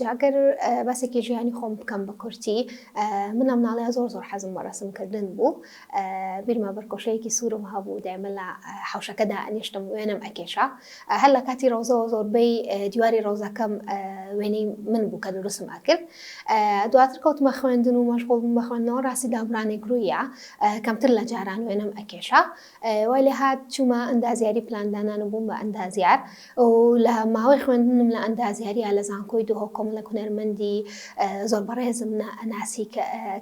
جا گەر باسێکی ژیانی خۆم بکەم بە کورتی من ئەم ناڵەیە زۆر زۆر حەزم بە ڕەسمکردن بوو بیرمە بەرکۆشەیەکی سوورم هەبوو دایمە لە حوشەکەدا ئەنیشتم وێنەم ئەکێشا هەر لە کاتی ڕۆزەوە زۆربەی دیواری ڕۆزەکەم وێنەی من بوو کە دروستم ئەکرد دواتر کەوتمە خوێندن و مەشغول بە خوێندنەوە ڕاستی دابرانی گرویە کەمتر لە جاران وێنەم ئەکێشا وای لێ هات چوومە ئەندازیاری پلاندانان و بووم بە ئەندازیار و لە ماوەی خوێندنم لە ئەندازیاریا لە زانکۆی دهۆک کۆمەڵێک هونەرمەندی زۆر بەڕێزم ناسی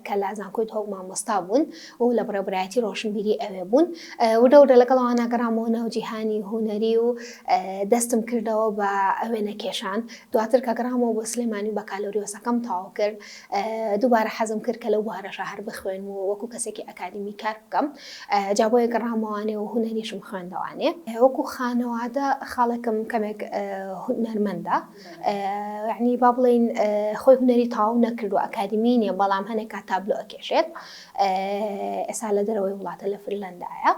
کە لە زانکۆی دهۆک مامۆستا بوون و لە بەڕێوەبەرایەتی ڕۆشنبیری ئەوێ بوون ورە ورە لەگەڵەوانە گەڕامەوە ناو جیهانی هونەری و دەستم کردەوە بە ئەوێنە کێشان دواتر کە گەڕامەوە بۆ سلێمانی و بەکالۆریۆسەکەم تەواو کرد دووبارە حەزم کرد کە لەو بوارەشە هەر بخوێنم و وەکو کەسێکی ئەکادیمی کار بکەم جا بۆیە گەڕامەوانێ و هونەریشم خوێندەوانێ وەکو خانەوادە خاڵێکم کەمێک هونەرمەندە یعنی با بڵین خۆی هونەری تاو نەکردو ئەکادیمی نیە بەڵام هەنێک کات تابلۆ ئەکێشێت ئێستا لە دەرەوەی وڵاتە لە فرلەندایە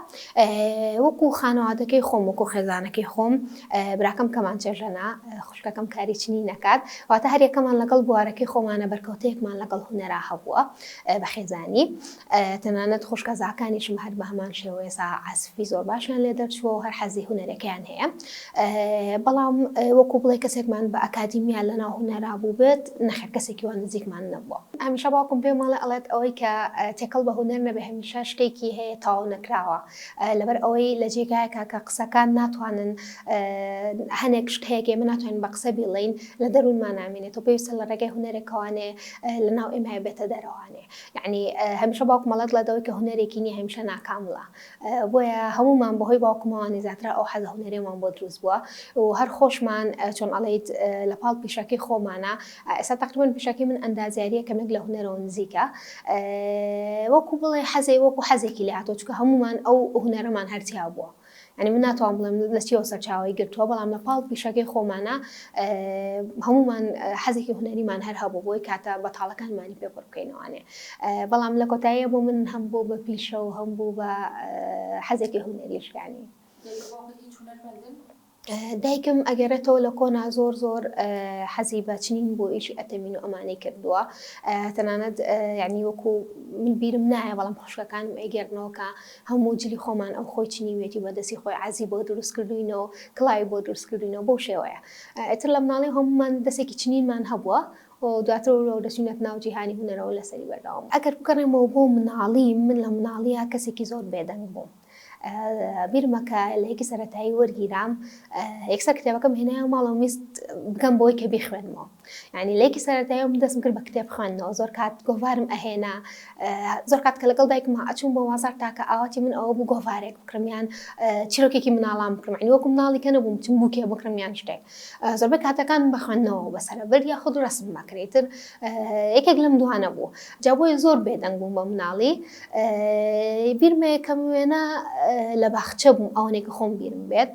وەکو خانەوادەکەی خۆم وەکو خێزانەکەی خۆم براکەم کەمان چێژەنا خوشکەکەم کاری چنی نەکات واتە هەریەکەمان لەگەڵ بوارەکەی خۆمانە بەرکەوتەیەکمان لەگەڵ هوەرا هەبووە بە خێزانی تەنانەت خوشکە زاکانیشم هەر بە هەمان شێوەیە سا عسفی زۆر باشیان لێ دەرچووە هەر حەزی هوەرەکەیان هەیە بەڵام وەکو بڵێ کەسێکمان بە ئەکادیمیا لەناو هونەرا بوو بێت نەخێر کەسێکی وان نزیکمان نەبووە هەمیشە باوکم پێم ماڵێ ئەڵێت ئەوەی کە تێکەڵ بە هونەر نەبێ هەمیشە شتێکی هەیە تاو نەکراوە لەبەر ئەوەی لە جێگایەکە کە قسەکان ناتوانن هەنێک شت هەیە ئێمە ناتوانین بە قسە بیڵین لە دەروونمان نامێنێت و پێویستە لە ڕێگەی هونەرێکەوانێ لە ناو ئێمە بێتە دەرەوانێ یعنی هەمیشە باوکمەڵەت لە دەوەی کە هونەرێکی نیە هەمیشە ناکامڵە بۆیە هەموومان بەهۆی باوکمەوە نەزاترا ئەو حەزە هونەرێمان بۆ دروست بووە و هەر خۆشمان چۆن ئەڵیت لە پاڵ پیشەکەی خۆمانە ئێستا تقریبان پیشەکەی من ئەندازیاریە کەمێک لە هونەرەوە نزیکە وەکو بڵێ حەزەی وەکو حەزێکی لە هاتۆ چکە هەمومان ئەو هونەرەمان هەرتیا بووە. ئەنی من ناتوان بڵێم لە چیەوە سەرچاوی گرتووە بەڵام لە پاڵ پیشەکەی خۆمانە هەمومان حەزێکی هونەریمان هەر هەبوو بۆی کاتە بەتاڵەکانمانی پێ بڕکەینەوانێ بەڵام لە کۆتاییە بۆ من هەم بۆ بە پیشە و هەم بوو بە حەزێکی هونەریش یانی دایکم ئەگەرێتەوە لە کۆنا زۆر زۆر حەزی بەچنین بۆ ئیشی ئەتەمین و ئەمانەی کردووە تەنانەت ینی وەکو من بیرم نایە بەڵام خوشکەکانم ئەگەرنەوەکە هەموو جلی خۆمان ئەو خۆی چنیوێتی بەدەستی خۆی عزی بۆ دروست کردوینەوە کڵای بۆ دروست کردوینەوە بۆ شێوەیە ئەتر لە مناڵی هەمومان دەستێکی چنینمان هەبووە و دواتر وەرەوە دەچینەت ناو جیهانی هونەرەوە لەسەری بەردەوام بووم ئەگەر بگەڕێمەوە بۆ مناڵی من لە مناڵیا کەسێکی زۆر بێدەنگ بووم بیرمە کە لە یەکی سەرەتایی وەرگیرام یەکسەر کتێبەکەم هێنایە ماڵەوە میست بگەم بۆی کە بیخوێنمەوە ینی لەیەکی سەرەتایی من دەستم کرد بە کتێب خوێندنەوە زۆر کات گۆڤارم ئەهێنا زۆر کات کە لەگەڵ دایکمە ئەچوون بۆ وازار تاکە ئاواتی من ئەوە بوو گۆڤارێک بکرمیان چیرۆکێکی مناڵام بکرمانی وەکو مناڵی کە نەبووم چم بووکێ بکرمیان شتێک زۆربەی کاتەکان بە خوێندنەوەوە بەسەرەبرد یاخود ڕەسم مەکرێ ئیتر یەکێک لەم دوانە بوو جا بۆیە زۆر بێدەنگ بووم بە مناڵی بیرمە یەکەم وێنە لە باخچە بووم ئەوەنێک کە خۆم بیرم بێت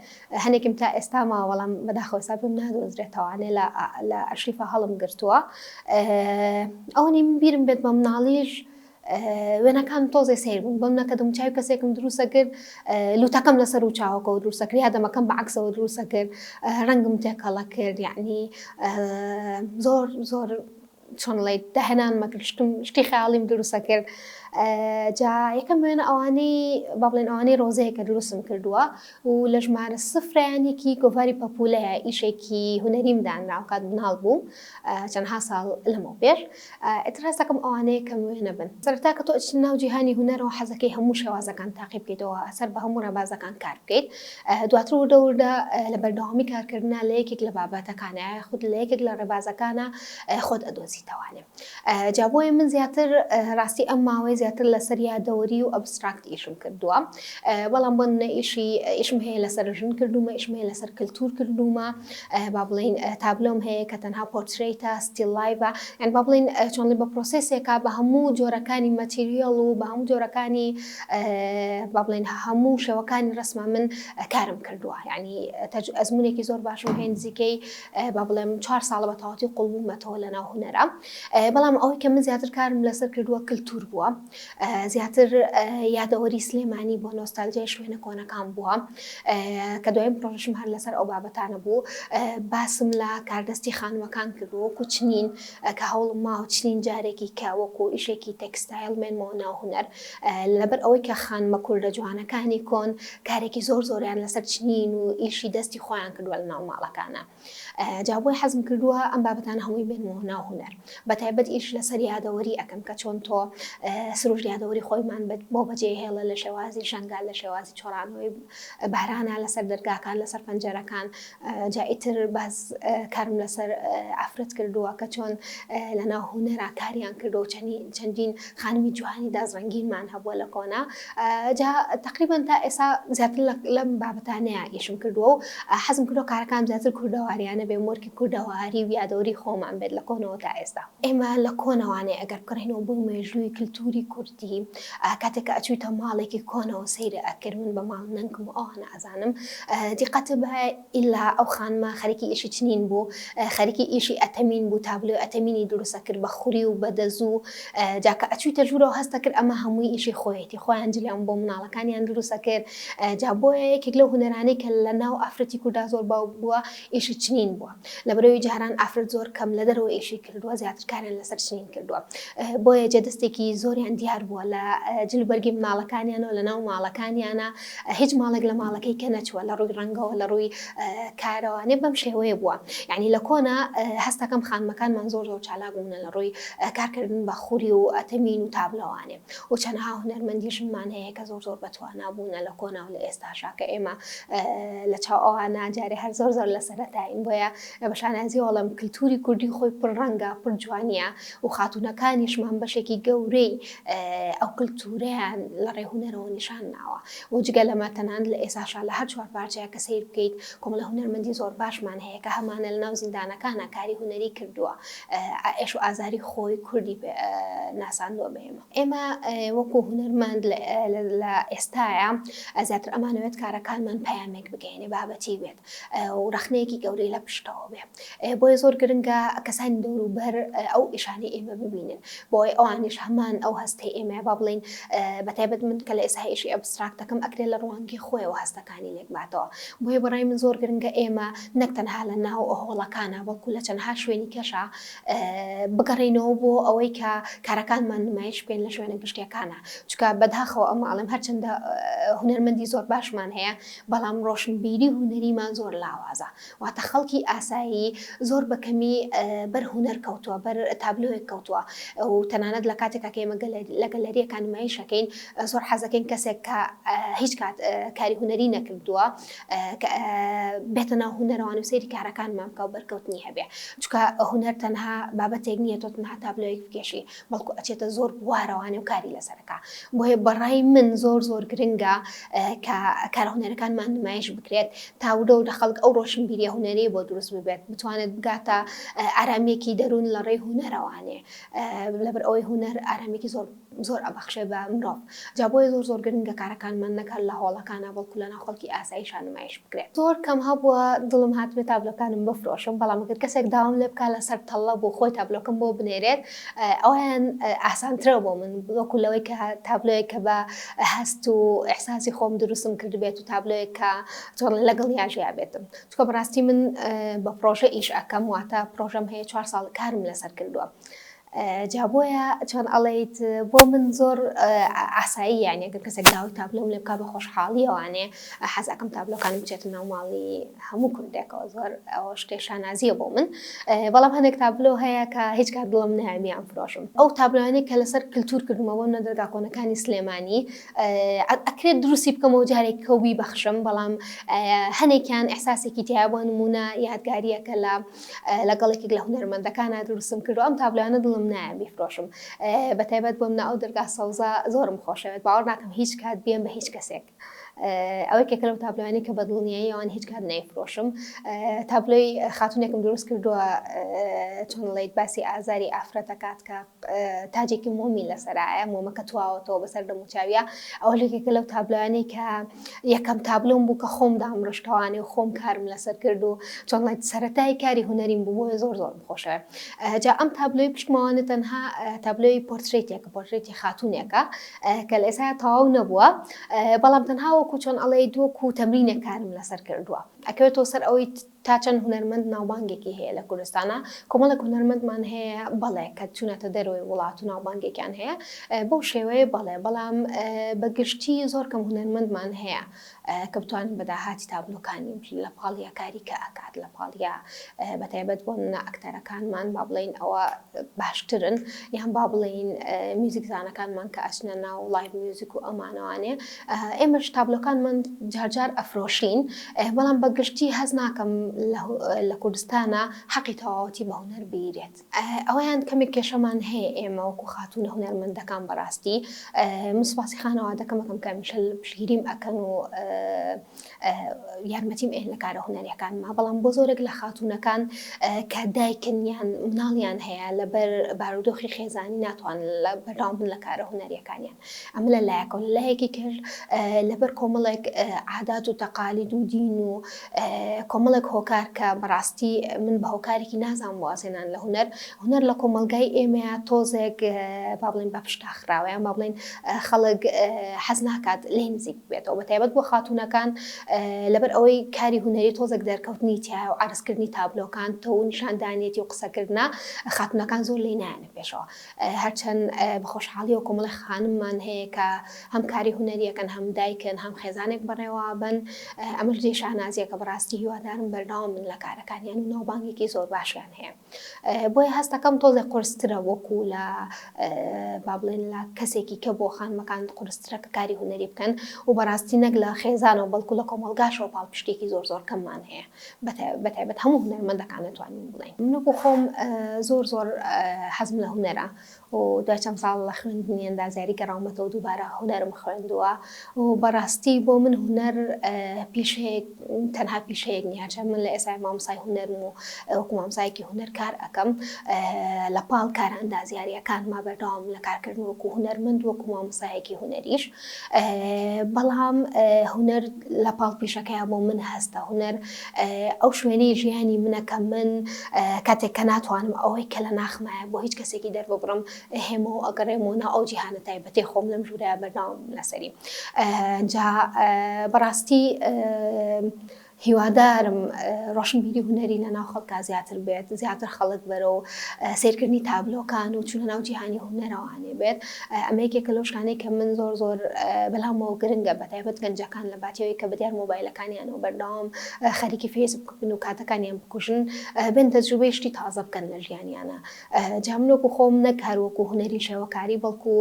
هەنێکم تا ئێستا ماوە بەڵام بەداخۆ ئێستا پێم نادۆزرێتەوانێ لە لە ئەشریفە هەڵم گرتووە ئەوەنی من بیرم بێت بە مناڵیش وێنەکانم تۆزێ سەیر بوون بەم نەکەدم چاوی کەسێکم دروستە کرد لوتەکەم لەسەر و چاوەکەەوە دروستە کرد یادەمەکەم بە عکسەوە دروستە کرد ڕەنگم تێکەڵە کرد یعنی زۆر زۆر چۆن ڵیت داهێنان مەکرشکم شتی خیاڵیم دروستە کرد جا یەکەم وێنە ئەوانەی با بڵێن ئەوانەی ڕۆزەیە کە دروستم کردووە و لە ژمارە سفرانێکی گۆڤاری پەپولەیە ئیشێکی هوەریم دانراوکات مناڵ بووم چەندها ساڵ لەمەوە پێش ئیتر هەستەکەم ئەوانەیە کەم وێنە بن. سەرەتا کە تۆ ئەچیت ناو جیهانی هونەرەوە حەزەکەی هەموو شێوازەکان تاقی بکەیتەوە، سەر بە هەموو ڕێبازەکان کار بکەیت. دواتر وردە وردە لە بەردەوامی کارکردنا لە یەکێک لە بابەتەکانا یاخود لە یەکێک لە ڕێبازەکانا خۆت ئەدۆزیتەوانێ. جا بۆیە من زیاتر ڕاستی ئەم ماوەیە زیاتر لەسەر یادەوەری و ئەبستراکت ئیشم کردووە. بەڵام بۆ نمونە ئیشی ئیشم هەیە لەسەر ژن کردومە ئیشم هەیە لەسەر کللتور کردومە با بڵین تابلۆم هەیە کە تەنها پۆرتریتە ستیل لایڤە یان با بڵین چۆنڵی بە پرۆسسێکا بە هەموو جۆرەکانی مەتیریەڵ و بە هەموو جۆرەکانی با بڵین هەموو شێوەکانی ڕسمە من کارم کردووە ینی ئەزمونێکی زۆر باشم هەیە نزیکەی با بڵێم چهار ساڵە بە تەواتی قوڵبوومەتەوە لە ناو هوەرە بەڵام ئەوەی کە من زیاتر کارم لەسەر کردووە کللتور بووە زیاتر یادەوەری سلێمانی بۆ نۆستالجای شوێنە کۆنەکان بووە کە دوایین پرۆژم هەر لەسەر ئەو بابەتانە بوو باسم لە کاردەستی خانووەکان کرد وەکو چنین کە هەوڵم ماوە چنین جارێکی کە وەکو ئیشێکی تەکستایل مێنمەوە ناو هوەر لەبەر ئەوەی کە خانمە کوردە جوانەکانی کۆن کارێکی زۆر زۆریان لەسەر چنین و ئیشی دەستی خۆیان کردووە لە ناو ماڵەکانە جا بۆیە حەزم کردووە ئەم بابەتانە هەمووی بێنمەوە ناو هونەر بەتایبەت ئیش لەسەر یادەوەری ئەەکەم کە چۆن تۆ سروش یادەوەری خۆیمان بۆ بەجێ هێڵە لە شێوازی شنگال لە شێوازی چۆرانەوەی بارانە لەسەر دەرگاکان لەسەر پەنجەرەکان جائیتر باز کارم لەسەر ئافرەت کردووە کە چۆن لەناو هونەرا کاریان کردو چەندین خانمی جوانی داس ڕەنگینمان هەبووە لە کۆنا جا تقریبان تا ئێسا زیاتر لەم بابەتانەیە ئیشم کردووە و حەزم کردو کارەکان زیاتر کوردەواریانە بێ مۆرکی کوردەواری و یادەوری خۆمان بێت لە کۆنەوە تا ئێستا ئێمە لە کۆنەوانێ ئەگەر بکڕینەوە بۆ مێژووی کللتوری کوردی کاتێک کە ئەچوویتە ماڵێکی کۆنەوە سەیرە ئەکرد من بە ماڵ نەنکم ئەوانە ئەزانم دیقەتە بە ئیلا ئەو خانمە خەریکی ئیشی چنین بوو خەریکی ئیشی ئەتەمین بوو تابلۆی ئەتەمینی دروست ئەکرد بە خوری و بە دەزوو جا کە ئەچوویتە ژوورەوە هەست ئەکرد ئەمە هەمووی ئیشی خۆیەتی خۆیان جلیان بۆ مناڵەکانیان دروست ئەکرد جا بۆیە یەکێک لەو هونەرانەی کە لە ناو ئافرەتی کوردا زۆر باو بووە ئیشی چنین بووە لەبەرئەوەی جاران ئافرەت زۆر کەم لە دەرەوە ئیشی کردووە زیاتر کاریان لەسەر چنین کردووە بۆیە جێ دەستێکی زۆریان دیار بووە لە جل و بەرگی مناڵەکانیانەوە لە ناو ماڵەکانیانە هیچ ماڵێک لە ماڵەکەی کە نەچووە لە ڕووی ڕەنگەوە لە ڕووی کارەوانێ بەم شێوەیە بووە یعنی لە کۆنا هەستەکەم خانمەکانمان زۆر زۆر چالاک بوونە لە ڕووی کارکردن بە خوری و ئەتەمین و تابلەوانێ و چەنەها هونەرمەندیشمان هەیە کە زۆر زۆر بەتواننا بوونە لە کۆنا و لە ئێستاشا کە ئێمە لە چاو ئەوانە جارێ هەر زۆر زۆر لە سەرەتاین بۆیە بە شانازی وەڵم کللتوری کوردی خۆی پر ڕەنگە پر جوانە و خاتونەکانیشمان بەشێکی گەورەی ئەو کلتورەیان لە ڕێ هونەرەوە نیشان ناوە و جگە لەمە تەنان لە ئێساشا لە هەر چوار پارچەیە کە سیر بکەیت کۆمەڵە هونەرمەندی زۆر باشمان هەیە کە هەمانە لە ناو زیندانەکانە کاری هونەری کردووە ئێش و ئازاری خۆی کوردی ناساندووە بە ئێمە ئێمە وەکو هونەرمەند لە ئێستاە زیاتر ئەمانەوێت کارەکانمان پامێک بگەینێ بابەتی بێت و ڕەخنەیەکی گەورەی لە پشتەوە بێ بۆیە زۆر گرنگە کەسانی دەوروبەر ئەو ئیشانی ئێمە ببینن بۆی ئەوانیش هەمان ئەو هەستەی ئێمە با بڵین بەتایبەت من کە لە ئێسایشی ئەبستراکتەکەم ئەکرێ لە ڕوانگی خۆیەوە هەستەکانی لێکباتەوە بۆیە بەڕای من زۆر گرنگە ئێمە نەک تەنها لە ناو هۆڵەکانە بەڵکو لە چەندها شوێنی کەشە بگەڕینەوە بۆ ئەوەی کە کارەکانمان نمایش بکەین لە شوێنە گشتیەکانە چکە بەداخەوە ئەمە ئەڵم هەرچەندە هوەرمەندی زۆر باشمان هەیە بەڵام ڕۆشنبیری هونەریمان زۆر لاوازە واتە خەڵکی ئاسایی زۆر بە کەمی بەر هونەر کەوتووە بەر تابلۆیەک کەوتووە و تەنانەت لە کاتێکا کە ئێمە لە گەلەریەکان نمایشەکەین زۆر حەزەکەین کەسێک کە هیچ کات کاری هونەری نەکردووە بێتە ناو هونەرەوان و سەیری کارەکانمان بکە و بەرکەوتنی هەبێ چکە هونەر تەنها بابەتێک نییە تۆ تەنها تابلۆیەک بکێشی بەڵکو ئەچێتە زۆر بوارەوانێ و کاری لەسەر ئەکا بۆیە بەڕای من زۆر زۆر گرنگە کە کارە هونەرەکانمان نمایش بکرێت تا ورە ورە خەڵک ئەو ڕۆشنبیریە هونەرەی بۆ دروست ببێت بتوانێت بگاتە ئارامیەکی دەروون لە ڕێی هونەرەوانێ لەبەر ئەوەی هونەر ئارامیکی زۆر زۆر ئەبەخشێ بە مرۆڤ جا بۆیە زۆر زۆر گرنگە کارەکانمان نەک هەر لە هۆڵەکانا بەڵکو لە ناو خەڵکی ئاسایشا نمایش بکرێت زۆر کەم هەبووە دڵم هاتبێت تابلۆکانم بفرۆشم بەڵام گەر کەسێک داوام لێ بکات لەسەر تەڵە بۆ خۆی تابلۆکەم بۆ بنێرێت ئەویان ئاسانترە بۆ من وەکو لەوەی کە تابلۆیە کە بە هەست و ئەحساسی خۆم دروستم کردبێت و تابلۆیە کە چۆن لەگەڵ یاژیا بێتم چکە بەڕاستی من بە پرۆژە ئیش ئەەکەم واتە پرۆژەم هەیە چوار ساڵ کارم لەسەر کردووە. جا بۆیە چۆن ئەڵێیت بۆ من زۆر ئاسایی یانە گەر کەسێک داوای تابلۆم لێ بکا بە خۆشحاڵیەوانێ حەزەکەم تابلۆکانم بچێتە ناو ماڵی هەموو کوردێکەوە زۆر ئەوە شتێ شانازیە بۆ من بەڵام هەندێک تابلۆ هەیە کە هیچ کات دڵم نامیان فرۆشم ئەو تابلۆانەی کە لەسەر کللتور کردمەوە نە دەرگا کۆنەکانی سلێمانی ئەکرێت دروستی بکەمەوە جارێک کەوبی بەخشم بەڵام هەنێکیان ئەحساسێکی تیا بۆ نمونە یادگاریەکە لە لەگەڵ یەکێک لە هونەرمەندەکانا دروستم کردو ئەم تابلۆیانە دڵم نایە بیفرۆشم بە تایبەت بۆم ناو دەرگا سەوزە زۆرم خۆشەوێت باوەڕ ناکەم هیچ کات بێم بە هیچ کەسێک ئەوەی کێکە لەم تابلوانی کە بە دڵنیایی ئەوان هیچ کات نایفرۆشم تابلۆی خاتونێکم دروست کردووە چۆن ڵیت باسی ئازاری ئافرەتەکات کە تاجێکی مۆمی لەسەرایە، مۆمەکە تواوەتەوە بەسەر دەموچاویا، ئەوە لەکێکە لەو تابلۆیانەی کە یەکەم تابلۆم بوو کە خۆم دامڕشتەوانێ و خۆم کارم لەسەر کرد و چۆنڵێت سەرەتای کاری هونەریم بوو بۆیە زۆر زۆرم خۆشە جا ئەم تابلۆی پشتماوانە تەنها تابلۆی پۆرترێتێکە پۆرترێتی خاتونێکە کە لە ئێسا تەواو نەبووە بەڵام تەنها وەکو چۆن ئەڵێ دووەکو تەمرینە کارم لەسەر کردووە ئەکەوێتەوە سەر ئەوەی تا چەند هونەرمەند ناوبانگێکی هەیە لە کوردستانا؟ کۆمەڵێک هونەرمەندمان هەیە بەڵێ کە چوونەتە دەرەوەی وڵات و ناوبانگێکیان هەیە بەو شێوەیە بەڵێ بەڵام بە گشتی زۆر کەم هونەرمەندمان هەیە کە بتوانین بە داهاتی تابلۆکانی بژین لە پاڵ یا کاری کە ئەکات لە پاڵ یا بە تایبەت بۆ منە ئەکتەرەکانمان با بڵێین ئەوە باشترن یان با بڵێین میوزیکزانەکانمان کە ئەچنە ناو لایڤ میوزیک و ئەمانەوانێ ئێمەش تابلۆکانمان جار جار ئەفرۆشین بەڵام بە گشتی هەست ناکەم لە کوردستانە حەقی تەواوەتی بە هونەر بیرێت ئەویان کەمێک کێشەمان هەیە ئێمە وەکو خاتونە هونەرمەندەکان بەڕاستی مسپاسی خانەوە دەکەمەکەم کەمیشل پشگیریم ئەکەن و یارمەتیم ئێن لە کارە هونەرەکانما بەڵام بۆ زۆرێک لە خاتونەکان کە دایکنیان مناڵیان هەیە لەبەر بارودۆخی خێزانی ناتوان لە بەرداوام بن لە کارە هونەریەکانیان ئەمە لە لایەکەوە، لە لایەکی تر لەبەر کۆمەڵێک عادات و تەقالید و دین و کۆمەڵێک هۆکار کە بەڕاستی من بە هۆکارێکی نازانم وازێنان لە هونەر هونەر لە کۆمەلگای ئێمەیە تۆزێک با بڵێن بە پشتا خراوەیان با بڵێن خەڵک حەز ناکات لێی نزیک بێتەوە بە تایبەت بۆ خاتونەکان لەبەر ئەوەی کاری هونەری تۆزێک دەرکەوتنی تایە و عرزکردنی تابلۆکان تۆ و نیشاندانیەتی و قسەکردە خاتونەکان زۆر لێ نایەنە پێشەوە. هەرچەند بە خۆشحاڵیەوە کۆمەڵێ خانممان هەیە کە هەم کاری هونەریەکەن هەم دایکن هەم خێزانێک بەڕێوابن ئەمەش جێ شانازیەکە بەڕاستی هیوادارم بەرداوام من لە کارەکانیان و ناوبانگێکی زۆر باشیان هەیە بۆیە هەستەکەم تۆزێک قرسترە وەکو لە با بڵێن لە کەسێکی کە بۆ خانمەکان قرسترە کە کاری هونەری بکەن و بەڕاستی نەک لە خێزانەوە بەڵکو لە کۆمەلگاشەوە پاڵپشتێکی زۆر زۆر کەممان هەیە بەتایبەت هەموو هونەرمەندەکان دەتوانین بڵێین من وەکو خۆم زۆر زۆر حەزم لە هونەرە و دوای چەند ساڵ لە خوێندنی ئەندازیاری گەڕاومەتەوە دووبارە هونەرم خوێندووە و بەڕاستی بۆ من هونەر پیشەیەک تەنها پیشەیەک نیاچە من لە ئێسای مامسای هونەرم و وەکو مامسایەکی هونەر کار ئەەکەم لە پاڵ کارە ئەندازیاریەکان ما بەردەوام لە کارکردن وەکو هونەرمەند وەکو مامسایەکی هونەریش بەڵام هونەر لە پاڵ پیشەکەیە بۆ من هەستە هونەر ئەو شوێنەی ژیانی منە کە من کاتێک کە ناتوانم ئەوەی کە لە ناخمایە بۆ هیچ کەسێکی دەرببڕم هێمە و ئەگەڕێم و ناو ئەو جیهانە تایبەتی خۆم لەم ژوورە بەرداوم لەسەری جا بەڕاستی هیوادارم ڕۆشنبیری هونەری لە ناو خەڵکا زیاتر بێت زیاتر خەڵک بەرەو سیرکردنی تابلۆکان و چونە ناو جیهانی هونەرەوانێ بێت ئەمە یەکێکە لەو شانەی کە من زۆر زۆر بەلامەوە گرنگە بە تایبەت گەنجەکان لە باتیەوەی کە بەدیار مۆبایلەکانیانەوە بەردەوام خەریکی فێسبوک بن و کاتەکانیان بکوژن بن تەجروبەی شتی تازە بکەن لە ژیانیانە جا من وەکو خۆم نەک هەر وەکو هونەری شێوەکاری بەڵکو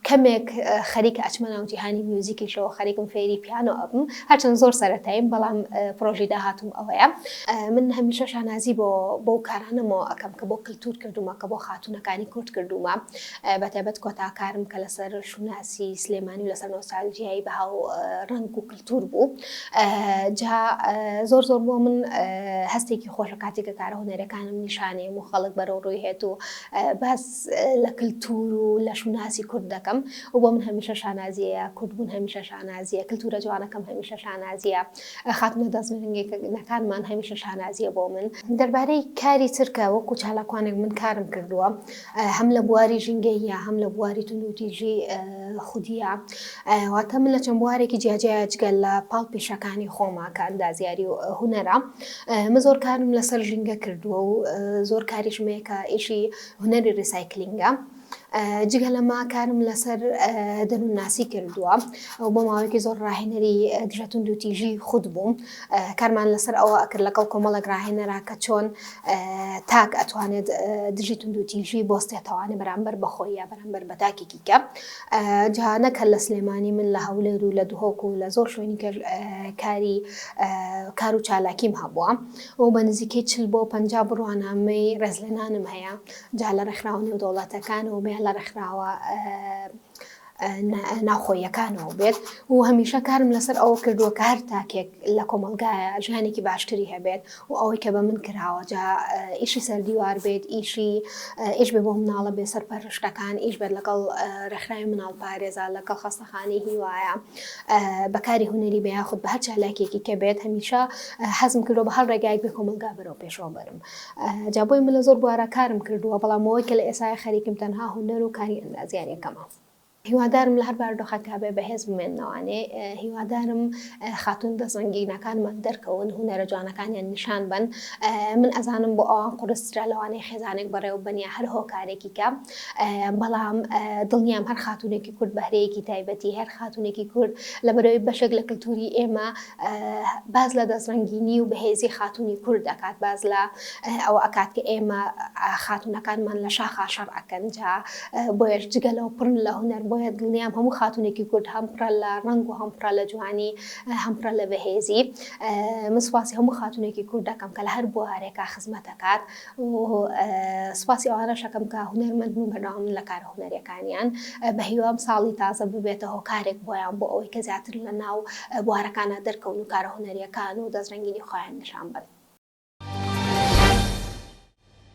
کەمێک خەریکە ئەچمە ناو جیهانی میوزیکیشەوە خەریکم فێری پیانۆ ئەبم هەرچەند زۆر سەرەتاییم بەڵام پرۆژی داهاتوم ئەوەیە من هەمیشە شانازی بۆ بەو کارانەمەوە ئەەکەم کە بۆ کللتور کردومە کە بۆ خاتونەکانی کورد کردومە بەتەبەت کۆتاکارم کە لەسەر شوناسی سلێمانی و لەسەر نۆسالجیایی بەها و ڕنگ و دوور بوو جا زۆر زۆر بۆ من هەستێکی خۆش لە کاتێکە کارە هونەرەکانم نیشانەیە و خەڵک بەرەو ڕووی هێت و باس لە کللتور و لە شوناسی کورد دەکەم و بۆ من هەمیشە شانازیەیە کوردبوون هەمیشە شانازیە کللتورە جوانەکەم هەمیشە شانازیە خاتمە دەستنگەکانمان هەمیشە شانازیە بۆ من دەربارەی کاری ترکە وەکو چالاکوانێک من کارم کردووە هەم لە بواری ژینگەییە هەم لە بواری توندوتیژی خودیە واتە من لە چەند بوارێکی جیاجیا جگە لە پاڵ پیشەکانی خۆما کە ئەندازیاری و هوەرە من زۆر کارم لەسەر ژینگە کردووە و زۆر کاریشمەیە کە ئیشی هوەری ریسایکلینگە. جگە لەما کارم لەسەر دەروونناسی کردووە ئەو بۆ ماوەیەکی زۆر ڕاهێنەری دژەتون دوتیژی خود بووم کارمان لەسەر ئەوە ئەکرد لەگەڵ کۆمەڵێک ڕاهێنەرا کە چۆن تاک ئەتوانێت دژی توندوتیژی بۆستێتەوانە بەرامبەر بەخۆی یا بەرامبەر بە تاکێکی کە جیهانەک هەر لە سلێمانی من لە هەولێر و لە دهۆک و لە زۆر شوێنی کاری کار و چالاکیم هەبووە و بە نزیکەی چل بۆ پ بڕوانامەی ڕێزلێنانم هەیە جا لە ڕێکخراوە نێودەوڵاتەکان و بێ لە ڕێکخراوە ناوخۆییەکانەوە بێت و هەمیشە کارم لەسەر ئەوە کردووە کە هەر تاکێک لە کۆمەلگایە ژیانێکی باشتری هەبێت و ئەوەی کە بە من کراوە جا ئیشی سەردیوار بێت ئیشی ئیش بێ بۆ مناڵە بێ سەر پەرشتەکان ئیش بێت لەگەڵ ڕێکخراوی مناڵ پارێزا لەگەڵ خەستەخانی هیوایە بەکاری هوەری بە یاخود بە هەر چالاکێکی کە بێت هەمیشە حەزم کردو بە هەر ڕێگایك بێ کۆمەلگا بەرەو پێشەوە بەرم جا بۆیە من لە زۆر بوارا کارم کردووە، بەڵام ئەوەی کە لە ئێستایا خەریکم تەنها هونەر و کاری ئەندازیارییەکەمە. هیوادارم لە هەر بارودۆخێکدا بێ بەهێز بمێننەوانێ، هیوادارم خاتوون دەستڕەنگینەکانمان دەرکەون، هونەرە جوانەکانیان نیشان بەن، من ئەزانم بۆ ئەوان قورسترە لەوانەی خێزانێک بەڕێوە ببەن یا هەر هۆکارێکی کە، بەڵام دڵنیام هەر خاتوونێکی کورد بەهرەیەکی تایبەتی هەیە، هەر خاتوونێکی کورد لەبەرئەوەی بەشێک لە کلتووری ئێمە باس لە دەستڕەنگینی و بەهێزی خاتوونی کورد ئەکات، باس لە ئەوە ئەکات کە ئێمە خاتوونەکانمان لە شاخا شەڕ ئەکەن، جا بۆیەش جگە لەوە پڕن لە هونەر، بۆیە دڵنیام هەموو خاتوونێکی کورد هەم پڕە لە ڕەنگ و هەم پڕە لە جوانی، هەم پڕە لە بەهێزی. من سوپاسی هەموو خاتوونێکی کورد ئەکەم کە لە هەر بوارێکا خزمەت ئەکات. و سوپاسی ئەوانەش ئەکەم کە هونەرمەند بوون بەردەوامن لە کارە هونەریەکانیان بە هیوام ساڵی تازە ببێتە هۆکارێک بۆیان بۆ ئەوەی کە زیاتر لە ناو بوارەکانا دەرکەون و کارە هونەریەکان و دەسترەنگینی خۆیان نیشان بەن.